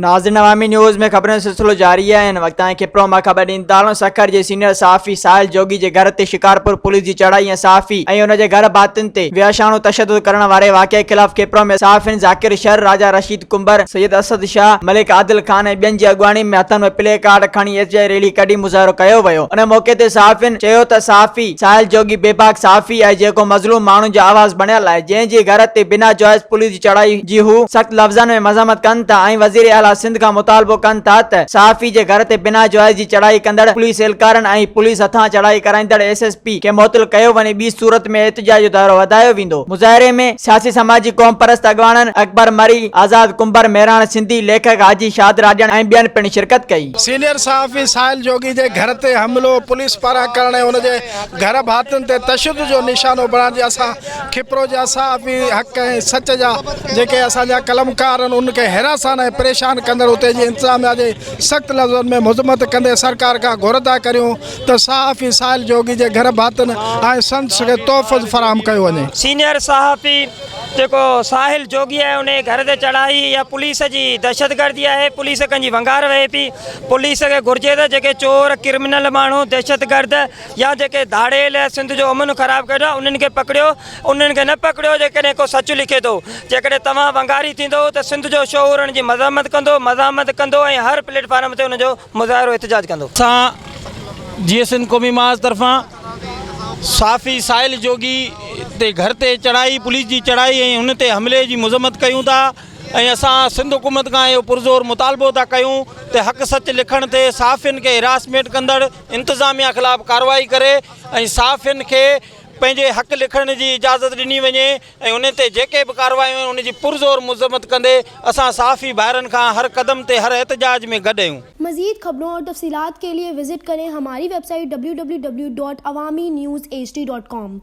ناظرين عوامي نيوز ۾ خبرن جو سلسلو جاري آهي هن وقت تائين کپرو مان خبر ڏيندارون سکر جي سينيئر صحافي ساحل جوڳي جي گهر تي شڪارپور پوليس جي چڙهائي ۽ صحافي ۽ ان جي گهر ڀاتين تي وحشاڻو تشدد ڪرڻ واري واقعي خلاف کپرو ۾ صحافين ذاڪر شر راجا رشيد ڪنڀر، سيد اسد شاهه، ملڪ عادل خان ۽ ٻين جي اڳواڻي ۾ هٿن ۾ پلي ڪارڊ کڻي ايس جي ريلي ڪڍي مظاهرو ڪيو ويو ان موقعي تي صحافين چيو ته صحافي ساحل جوڳي بي باڪ صحافي آهي جيڪو مظلوم ماڻهن جو آواز بڻيل آهي جنهن جي گهر تي بنا جواز پوليس جي چڙهائي جي هو سخت لفظن ۾ مذمت ڪن ٿا ۽ وزير اعليٰ سنڌ کان مطالبو ڪن ٿا ته صحافي جي گهر تي بنا جواز جي چڙهائي ڪندڙ پوليس اهلڪارن ۽ پوليس هٿان چڙهائي ڪرائيندڙ ايس ايس پي کي معطل ڪيو وڃي ٻي صورت ۾ احتجاج جو دائرو وڌايو ويندو. مظاهري ۾ سياسي سماجي قومپرست اڳواڻن اڪبر مري، آزاد ڪنڀر، مهراڻ سنڌي، ليکڪ حاجي شاد راڄڻ ۽ ٻين پڻ شرڪت ڪئي. سينيئر صحافي ساحل جوڳي جي گهر تي حملو پوليس پاران ڪرڻ ۽ ان جي گهر ڀاتين تي تشدد جو نشانو بڻائڻ جي اسان کپرو جا صحافي حق ۽ سچ جا جيڪي اسان جا قلمڪار آهن انهن کي حراسان ۽ پريشان ڪندڙ اتي جي انتظاميا جي سخت لفظن ۾ مذمت ڪندي سرڪار کان گهرندا ڪريون ته صحافي سائل جوڳي جي گهر ڀاتن ۽ سندس کي تحفظ فراهم ڪيو وڃي. سينيئر صحافي جيڪو ساحل جوڳي آهي انهي گهر تي چڙهائي اها پوليس جي دهشتگردي آهي پوليس ڪنهنجي ونگار وهي پي پوليس کي گهرجي ته جيڪي چور ڪرمنل ماڻهو دهشتگرد يا جيڪي ڌاڙيل يا سنڌ جو امن خراب ڪري ويٺا انهن کي پڪڙيو انهن کي نه پڪڙيو جيڪڏهن ڪو سچ لکي ٿو جيڪڏهن توهان ونگاري ٿيندو ته سنڌ جو شعور ان جي مذمت ڪندو مزاحمت ڪندو ۽ هر پليٽ فارم تي ان جو مظاهرو احتجاج ڪندو. اسان جيئي سنڌ قومي محاذ طرفان صحافي ساحل جوڳي تي گهر تي چڙهائي پوليس جي چڙهائي ۽ هن تي حملي جي مذمت ڪيون ٿا ۽ اسان سنڌ حڪومت کان اهو پرزور مطالبو ٿا ڪيون ته حق سچ لکڻ تي صحافين کي هراسمينٽ ڪندڙ انتظاميا خلاف ڪارروائي ڪري ۽ صحافين کي پنهنجي حق لکڻ جي اجازت ڏني وڃي. ۽ انهن تي جيڪي به ڪارروايون آهن ان جي پرزور مذمت ڪندي اسان صحافي ڀائرن کان هر قدم تي هر احتجاج ۾ گڏ اهيون. مزيد خبرون اور تفصيلات کے لئے وزٽ ڪرين ھماري ويب سائيٽ www.awaminews hd.com.